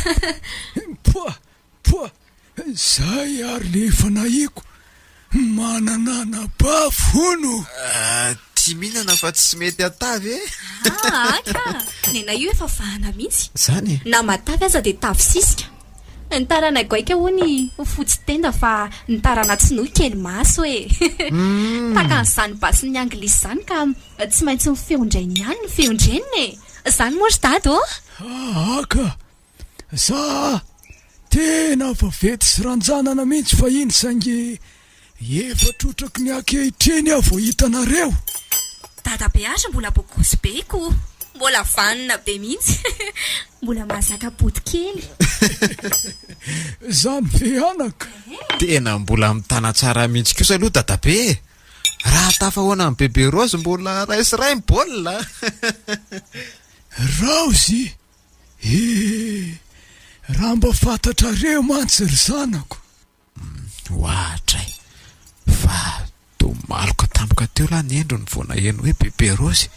Speaker 5: Poa! Poa!
Speaker 1: Izay ary le efa nahiko. Mananana bafo hono! Tia
Speaker 6: mihinana fa tsy mety atà ve? Aa ka!
Speaker 5: Nenay io efa vahana mihitsy. Zany e! Na matavy
Speaker 6: aza dia
Speaker 5: tavy sisika. Ny tarana goaika hono ho fotsy tenda fa ny tarana tsinohy kely maso e! Takan'izany basin'ny anglisy izany ka tsy maintsy ny feon-drainy ihany no feon-dreniny e! Izany moa ry dada ô! Aa ka!
Speaker 1: Za tena vaventy sy ranjanana mintsy fahiny saingy efa trotraky ny ankehitriny aho vao hita anareo. Dada
Speaker 5: be aza mbola bokosy be ko. Mbola vanona be mihitsy. Mbola mahazaka bodo kely.
Speaker 1: Za miveanaka. Tena mbola
Speaker 6: mitana tsara mihitsy kosa aloha dadabe e! Raha tafahoana amin'i Bebe Raozy mbola ray sy ray ny baolina a!
Speaker 1: Raozy? He! Raha mba fantatrareo mantsy ry zanako!
Speaker 6: Ohatra e! Fa toa maloka tampoka teo lahy ny endriny vao naheno hoe Bebe Rose e!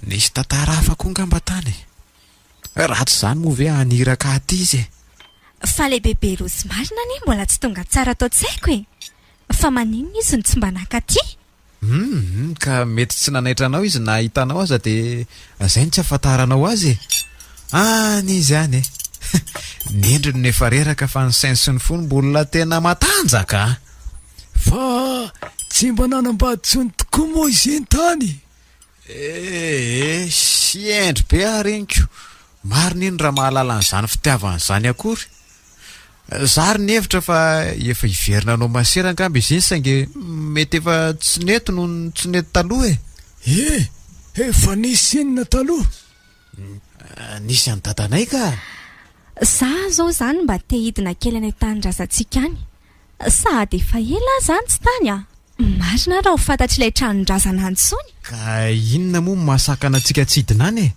Speaker 6: Nisy tantara hafa koa angamba tany e! Raha tsy izany moa ve haniraka aty izy e! Fa ilay
Speaker 8: Bebe Rose marina anie mbola tsy tonga tsara ato an-tsaiko e! Fa maninona izy no tsy mba naka aty? Humm
Speaker 6: ka mety tsy nanaitra anao izy na hahita anao aza de zay no tsy ahafantaranao azy e! Any izy any e! Ny endriny no efa reraka fa ny sainy sy ny fony mbola tena matanjaka a! Fa
Speaker 1: tsy mba nanambady intsony tokoa moa i Zintany? Ee,
Speaker 6: sy hendry be aho reniko. Marina iny raha mahalala an'izany fitiavana izany akory. Za ary nihevitra fa efa hiverina hanao masera angamba izy iny saingy mety efa tsy nety noho ny tsy nety taloha e. Ee,
Speaker 1: efa nisy inona taloha?
Speaker 6: Nisy an'i dadanay ka. Za
Speaker 8: zao zany mba te hidina kely any an-tanin-drazantsika any. Sahady efa ela aho izany tsy tany a! Marina ary raha ho fantatr'ilay tranon-drazana any intsony. Ka inona
Speaker 6: moa no mahasakana antsika tsy hidina any e?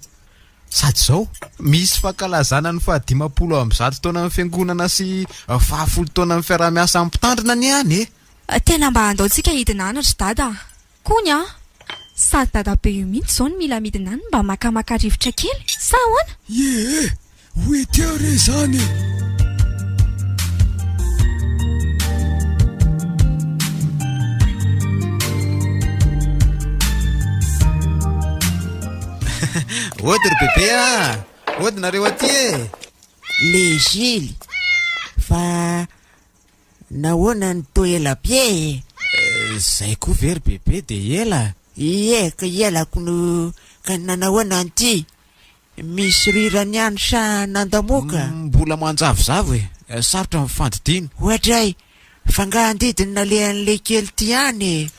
Speaker 6: Sady izao, misy fankalazana ny fahadimampolo amby zato taonan'ny Fiangonana sy fahafolo taonan'ny fiaraha-miasan'ny Mpitandrina anie any e! Tena mba
Speaker 8: andaontsika hidina any ry Dada a! Kony a! Sady dadabe io mihitsy izao no mila midina any mba makamaka rivotra kely, sa ahoana? Iee!
Speaker 1: Wither re izany e!
Speaker 6: Hody ry bebe a! Hody nareo aty e!
Speaker 9: Lejily, fa Nahoana no toa ela be e? Izay
Speaker 6: koa ve ry Bebe dia ela? Ie, ka
Speaker 9: ielako no ka nanahoana an'ity? Misy rirany ihany sa nandamoaka? Mbola manjavozavo
Speaker 6: e! Sarotra ny fandidiana. Oadray!
Speaker 9: Fa nga andidy ny nalehan'ilay kely ity any e!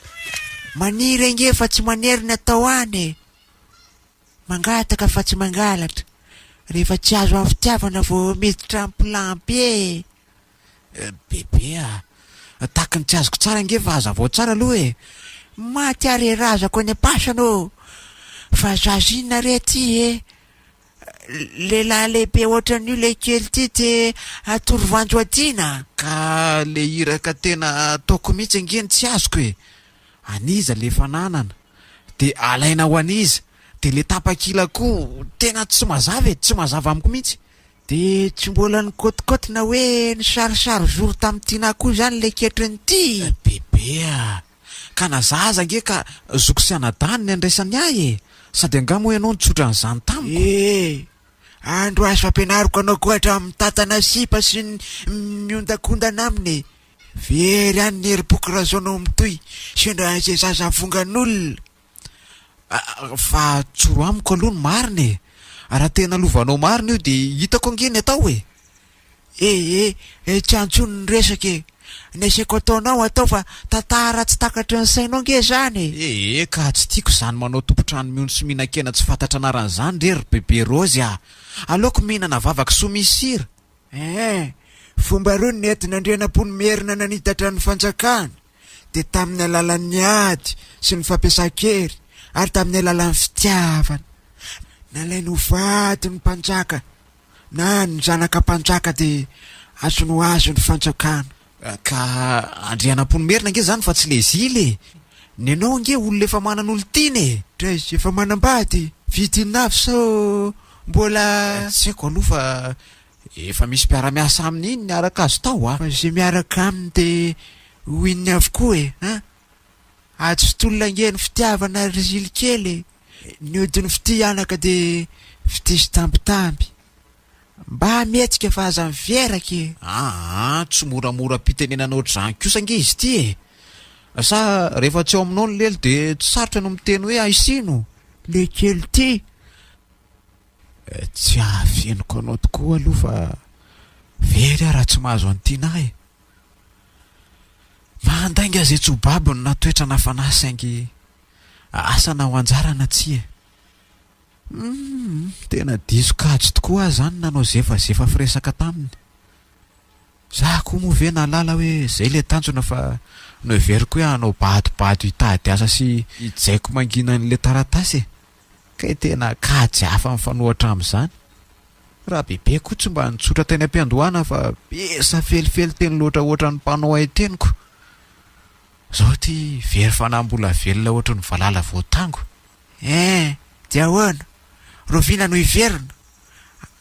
Speaker 9: Maniry ange fa tsy manery ny atao any e! Mangataka fa tsy mangalatra, rehefa tsy azo amin'ny fitiavana vao miditra am-pilam-be e!
Speaker 6: Bebe a! Tahaky ny tsy azoko tsara ange fa hazavao tsara aloha e! Maty
Speaker 9: are razako any am-pasana ô! Fa zaza inona re ity e! Lehilahy lehibe ohatran'io ilay kely ity te hatory voanjo adina? Ka ilay
Speaker 6: iraka tena ataoko mihitsy ange no tsy azoko e! An'iza ilay fananana? Dia alaina ho an'iza? Dia ilay tapakila koa tena tsy mazava e! Tsy mazava amiko mihitsy! Dia tsy
Speaker 9: mbola nikotikoti na hoe nisarisary zoro tamin'i Tinah koa izany ilay ketrin'i Ty? Bebe a!
Speaker 6: Ka na za aza ange ka zoky sy anadahiny ny andraisany ahy e! Sady angaha moa ianao nitsotra an'izany tamiko? Ee! Andro
Speaker 9: azo ampianariko anao koa hatramin'ny mitantana sipa sy ny miondakondana aminy e! Very any ny herim-poko raha izao no mitohy, sendra izay zaza avongan'olona!
Speaker 6: Fa tsoro amiko aloha ny marina e! Raha tena lovanao marina io dia hitako ange ny
Speaker 9: atao e!
Speaker 6: Eh eh
Speaker 9: eh tsy
Speaker 6: antsony
Speaker 9: ny resaka
Speaker 6: e!
Speaker 9: Ny asaiko ataonao atao fa tantara tsy takatry ny sainao ange izany e! Eh eh ka tsy
Speaker 6: tiako izany manao tompon-trano miono sy mihinan-kena tsy fantatra anarana izany re ry bebe Rozy a! Aleoko mihinana vavakasoa misy sira! Eh eh!
Speaker 9: Fomba roa ny nentin'Andrianampoinimerina nanitatra ny fanjakany! dia tamin'ny alalan'ny ady sy ny fampiasan-kery ary tamin'ny alalan'ny fitiavana. Nalainy ho vadin'ny mpanjaka na ny zanaka mpanjaka dia azony ho azy ny fanjakana. Ka
Speaker 6: Andrianampoinimerina ange izany fa tsy le zila e! Ny anao ange olona efa manana olon-tiana e! Dra izy efa
Speaker 9: manambady, vitin'afo sao mbola. Tsy haiko aloha fa
Speaker 6: Efa misy mpiara-miasa aminy iny niaraka azy tao a! Fa izay miaraka aminy
Speaker 9: dia ho inony avokoa e! a! Ady sy tolona ange ny fitiavana ry zily kely e! Ny odin'ny fitia anaka dia fitia sy tambitamby! Mba mihetsika fa aza miveraka e! Aa! Tsy
Speaker 6: moramora am-pitenenana ohatr'izany kosa ange izy ity e! Sa rehefa tsy ao aminao ny lelo dia tsy sarotra no miteny hoe aisino? Le kely
Speaker 9: ity!
Speaker 6: Tsy ahafenoko anao tokoa aloha fa very aho raha tsy mahazo an'i Tinah e! Mahandainga izay tsy ho babony na toetra na fanahy saingy asa na ho anjara na tsia e! Humm, tena diso kajy tokoa aho izany nanao zefazefa firesaka taminy. Za koa moa ve nahalala hoe izay ilay tanjona fa noheveriko hoe hanao badobado hitady asa sy hijaiko mangina an'ilay taratasy e! Kay tena kajy hafa mifanohatra amin'izany. Rabebe koa tsy mba nitsotra teny am-piandohana fa be safelifely teny loatra ohatran'ny mpanao haiteniko. Zao ity very fanahy mbola velona ohatran'ny valala voatango. Eh!
Speaker 9: Dia ahoana? Roviana no hiverina?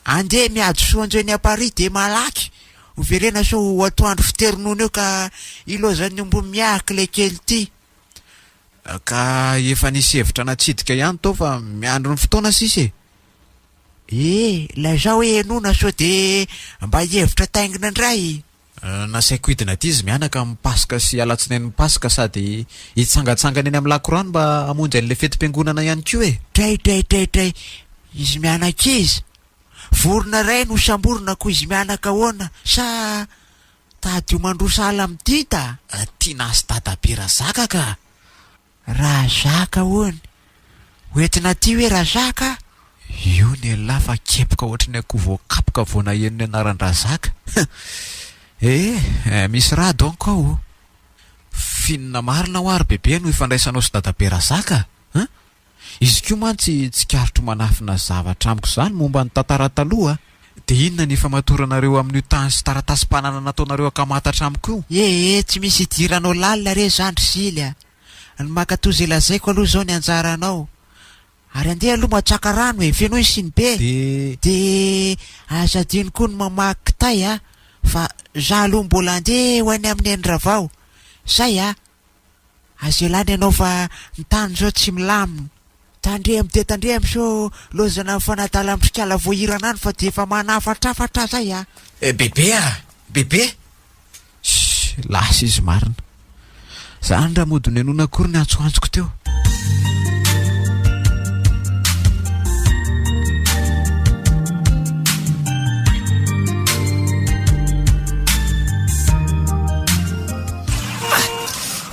Speaker 9: Andeha miady soa anjeo eny Paris dia malaky hoverena sao ho atoandro fitery noana eo ka ilozan'ny omby miahaka ilay kely ity. Ka
Speaker 6: efa nisy hevitra natsidika ihany tao fa miandry ny fotoana sisa e! Ee,
Speaker 9: lazao e Enona sao dia mba hihevitra taingina indray! Nasaiko hidina
Speaker 6: aty izy mianaka amin'ny Paska sy Alatsinainin'ny Paska sady hitsangantsangana eny amin'ny lakorano mba hamonjy an'ilay fetim-piangonana ihany koa e! Dray, dray, dray, dray!
Speaker 9: Izy mianaka iza? Vorona iray no samborina koa izy mianaka ahoana? Sa. Tadidio mandroso ala amin'ity da tiana sy
Speaker 6: dadabe Razaka ka!
Speaker 9: Razaka hono! Ho entina aty hoe Razaka a! Io
Speaker 6: nelah fa kepoka ohatry ny akoho voakapoka vao naheno ny anaran-dRazaka! Eh! Misy raha donc ao o! Finina marina hoa ry Bebe no ifandraisanao sy dadabe Razaka a! Izy koa mantsy tsikaritro manafina zavatra amiko izany momba ny tantara taloha. Dia inona ny ifamatoranareo amin'io tany sy taratasim-panana nataonareo akamatatra amiko io? Ee, tsy misy
Speaker 9: idiranao lalina re izany ry Zily a! Ny mankatoa izay lazaiko aloha izao ny anjaranao. Ary andeha aloha matsaka rano e! Fenoy ny siny be e! Dia aza adino koa ny mamaky kitay a! Fa izaho aloha mbola andeha ho any amin'i Neny Ravao. Izay a! Aza ialana ianao fa ny tany izao tsy milamina. Tandremo dia tandremo sao lozana ny fanadala amin'ny trikala voahirana any fa dia efa manafatrafatra aza ahy ah. Eh Bebe ah!
Speaker 6: Bebe! Shh! Lasa izy marina. Zany raha mody nonenona akory ny antsoantsoko teo.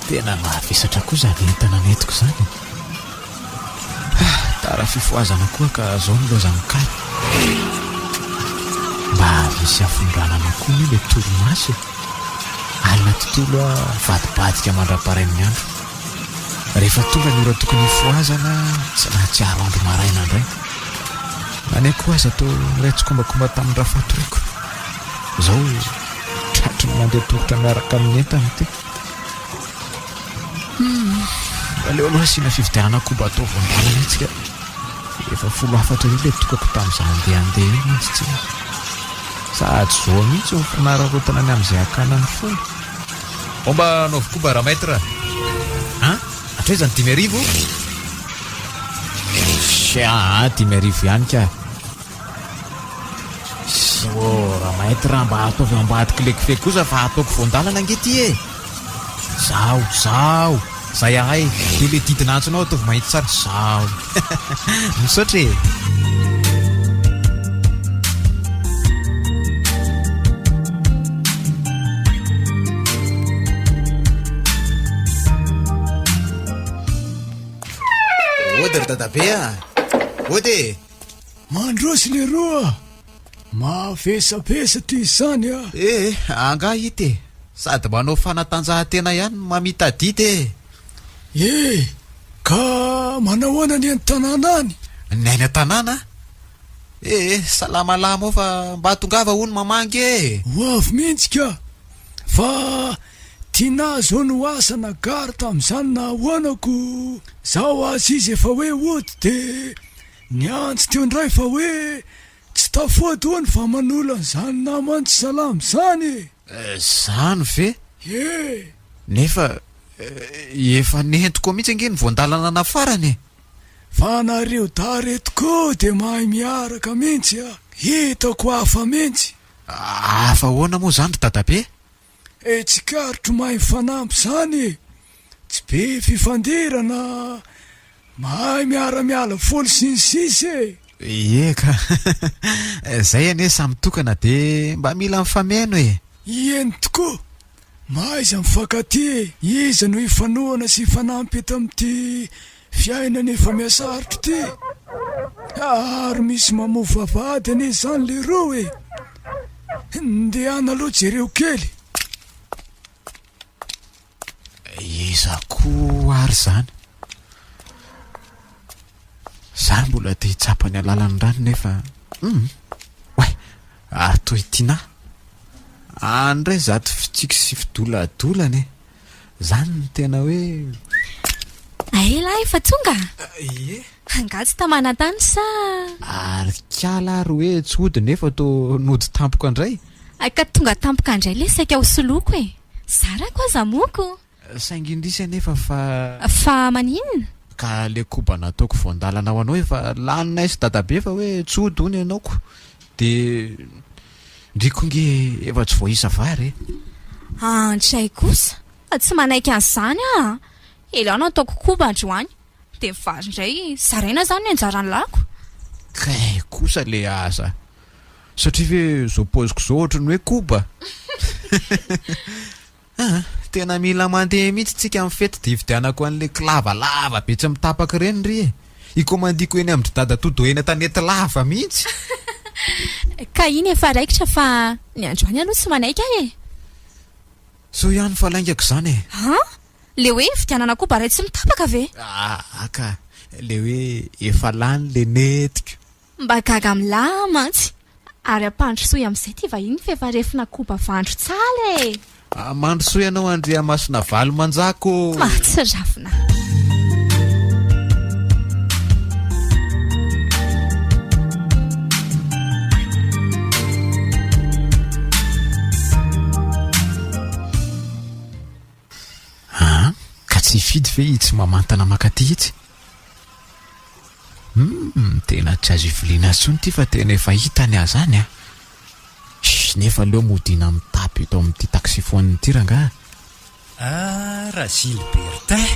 Speaker 6: Tena mahavesatra koa izany entana nentiko izany e! Tara fifohazana koa ka izao ny loza mikalo. Mba hisy hafindranana koa anie ilay torimaso e! Alina tontolo aho mivadibadika mandra-parain'ny andro. Rehefa tonga ny ora tokony hifohazana, tsy nahatsiaro andro maraina indray. Na ny akoho aza toa niray tsikombakomba tamin-dRafatoriko. Izao Tratry ny mandeha tongotra miaraka amin'ny entana ity. Hmm. Aleo aloha asiana fividianana koba atao voan-dalana itsika. Efa folo hafatra io ilay tokako tamin'izaho handeha handeha io mantsy tsy hoe. Sahady zoa mihitsy ny fanararaotana ny amin'izay hakana ny fony. Omba anaovy koba raha maître. Ha? Hatraiza ny dimy arivo? Sia, dimy arivo ihany ka. Siora, maître raha mba ataovy ambadiko le kofehy kosa fa ataoko voandalana ange ty e. Zaho, zaho, zay ahay, de le didina antsonao ataovy mahitsy tsara, zaho. Misaotra e.
Speaker 4: Ody ry dadabe a. Ody e. Mandroso
Speaker 1: leroa a! Mavesabesa ty izany a! E e, angaha
Speaker 4: ity e! Sady manao fanatanjahantena ihany no mamita dite e! E,
Speaker 1: ka manao ahoana ny any tanàna any? Ny any an-tanàna?
Speaker 4: E e, salamalama ao fa mba tongava hono mamangy e! Ho avy mihitsy
Speaker 1: ka! Fa Tinah izao no asa na gare tamin'izany na ahoana ko! Zao aza izy efa hoe hody dia. Niantso teo indray fa hoe tsy tafoadony fa manolo an'izany naman'i Salam izany e! Izany
Speaker 4: ve? Ie! Nefa efa nentiko mihitsy ange ny voandalana nafarany e! Fa
Speaker 1: nareo dahy reto koa dia mahay miaraka mihitsy a! Hitako hafa mihitsy! Hafa
Speaker 4: ahoana moa izany ry dadabe? Eh
Speaker 1: tsikaritro mahay mifanampy zany e! Tsy be fifandirana, mahay miara miala voly sy ny sisa e! Ie ka!
Speaker 4: Zay anie samy tokana de mba mila mifameno e! Ieny
Speaker 1: tokoa! Mahaiza mifankatia e! Iza no hifanohana sy hifanampy eto amin'ity Fiainana efa mihasarotra ity a ary misy mamoa vavahady anie izany leroa e! Ndehana aloha jereo kely.
Speaker 4: Iza koa ary izany? Za mbola te hitsapa ny alalan'ny rano nefa hum, oay, ary toy ity na. Any indray izato fitsiky sy fidoladolana e! Zany no tena hoe
Speaker 8: A elah efa tonga a! Ie. Angaha tsy tamanantany sa. Ary
Speaker 4: kiala ary hoe tsy hody nefa to nody tampoka ndray. Hay ka tonga
Speaker 8: tampoka ndray le saika ho soloiko e! Zarako aza moko. Saingy indrisy
Speaker 4: anefa fa. Fa
Speaker 8: maninona? Ka le koba
Speaker 4: nataoko voandalana ho anao efa laninay sy dadabe fa hoe tsy hody hono ianao ko de. Ndry ko nge efa tsy voaisa vary e! An
Speaker 8: tjay kosa fa tsy manaiky an'izany aho a! Ela nataoko koba androany dia ny vary indray zaraina izany ny anjaran'ny lako. Kay
Speaker 4: kosa le asa! Satria ve izao paoziko izao ohatran'ny hoe koba? Aa! Tena mila mandeha mihitsy tsika am fety de hividianako anle klava lava be tsy mitapaka ireny ry e! Hikomandiako eny amindry dada Todo eny antanety lava mihitsy!
Speaker 8: Ka iny efa raikitra fa ny androany aloha tsy manaiky aho e!
Speaker 4: Soa ihany fa laingako izany e! An! Le hoe
Speaker 8: hividianana koba iray tsy mitapaka ve? Aa ka!
Speaker 4: Le hoe efa lany le nentiko! Mba gaga
Speaker 8: milaha aho mantsy. Ary ampandrosoy amin'izay ity vahiny f'efa refona koba vandro tsala e! Ah, mandrosoy
Speaker 4: anao Andriamasinavalomanja-ko ô! Mahatsiravina. Aa, ka tsy hifidy ve i tsy mamantana makaty itsy? Humm tena tsy azo iviliana tsony ity fa tena efa hita ny azany a! Shh nefa aleo modiana mitapy eto amin'ity taxiphone ity rangaha. Ah
Speaker 10: ra Gilbertin!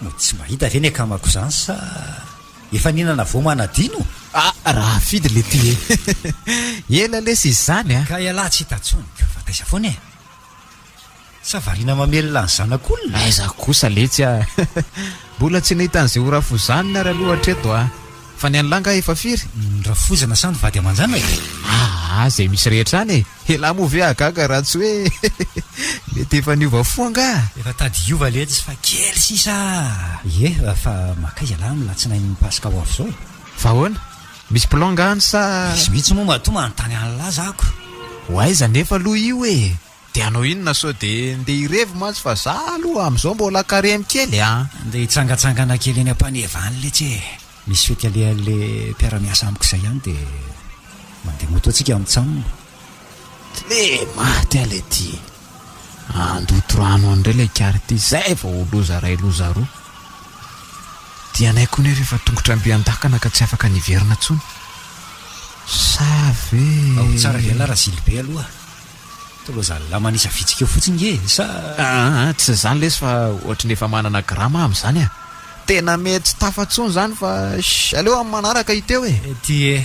Speaker 10: No tsy mahita ve ny akamako izany sa efa nihinana voa manadino? Ah Rahafidy
Speaker 4: le ty e! Ela lesy izy izany a! Ka ialahy tsy hita tsony
Speaker 10: ka fa taiza foana e! Sa variana mamelona ny zanak'olona? Aiza kosa letsy
Speaker 4: a! Mbola tsy nahita an'izay ho rafozanina ary aloha hatreto a! Fa ny an'i lahy angaha efa firy? Ny rafozana sa ny
Speaker 10: vady aman-janaka? Aa! izay
Speaker 4: misy rehetra any e! Elah moa ve hahagaga raha tsy hoe mety efa niova fo angaha? Efa tady hiova
Speaker 10: letsy fa kely sisa a! Ie, fa mankaiza lahy amin'ny latsinain'ny paska ho avy izao e? Fa ahoana?
Speaker 4: Misy plan angaha any sa? Vitsivitsy moa matoa
Speaker 10: manontany an'lah zako. Ho aiza anefa
Speaker 4: aloha io e? De hanao inona sao de ndeha hirevy mantsy fa za aloha amzao mbola karemy kely a! Ndeha hitsangatsangana
Speaker 10: kely eny ampaneva any letsy e! Misy fety alehan'le mpiara-miasa amiko zay any de mandeha moto antsika mitsamina. Tle
Speaker 4: maty aho le ty! Handoto rano any ndray le kary ty zay vao ho loza ray loza roa! Ty anay koa nefa efa tongotra ambian-dakana ka tsy afaka niverina tsony! Sa ve. Ao tsara ve la
Speaker 10: Razilibe aloha? Toloha zalahy manisa vitsika eo fotsiny nge e! Sa. Aa tsy izany
Speaker 4: lesy fa ohatry ny efa manana grama aho amin'izany a! Tena mety tsy tafa tsony izany fa shh! Aleo amin'ny manaraka iteo e! Ety e!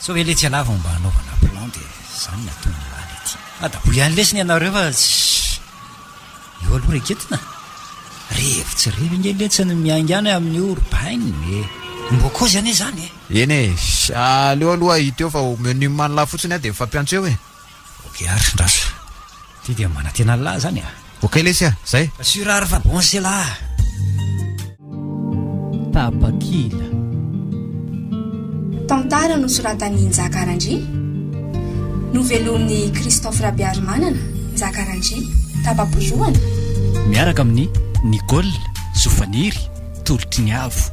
Speaker 10: Sao ve letsy ialahy vao mba hanaovana plan dia izany ny ataon'ny lahy le ty! Adaboy ihany lesy ny anareo fa shh! Eo aloha reketina! Revy tsy revy ange letsy ny miaingàna amin'io ry bainina e! Mbokôzy anie izany e! Eny e!
Speaker 4: aleo aloha iteo fa ho menu manla fotsiny aho dia mifampiantso eo e! Ok ary,
Speaker 10: ndraso. Ity dia manantena an'lah izany a! Ok lesy a! Zay!
Speaker 4: Assure ary fa bon se
Speaker 10: lah!
Speaker 11: Tapakila.
Speaker 2: Tantara nosoratan'i Njaka Randria, novelomin'i Christophe Rabearimanana, Njaka Randria, Tapa-boalohany, Miaraka
Speaker 11: amin'i Nicole Zofaniry, Tolotry ny Avo.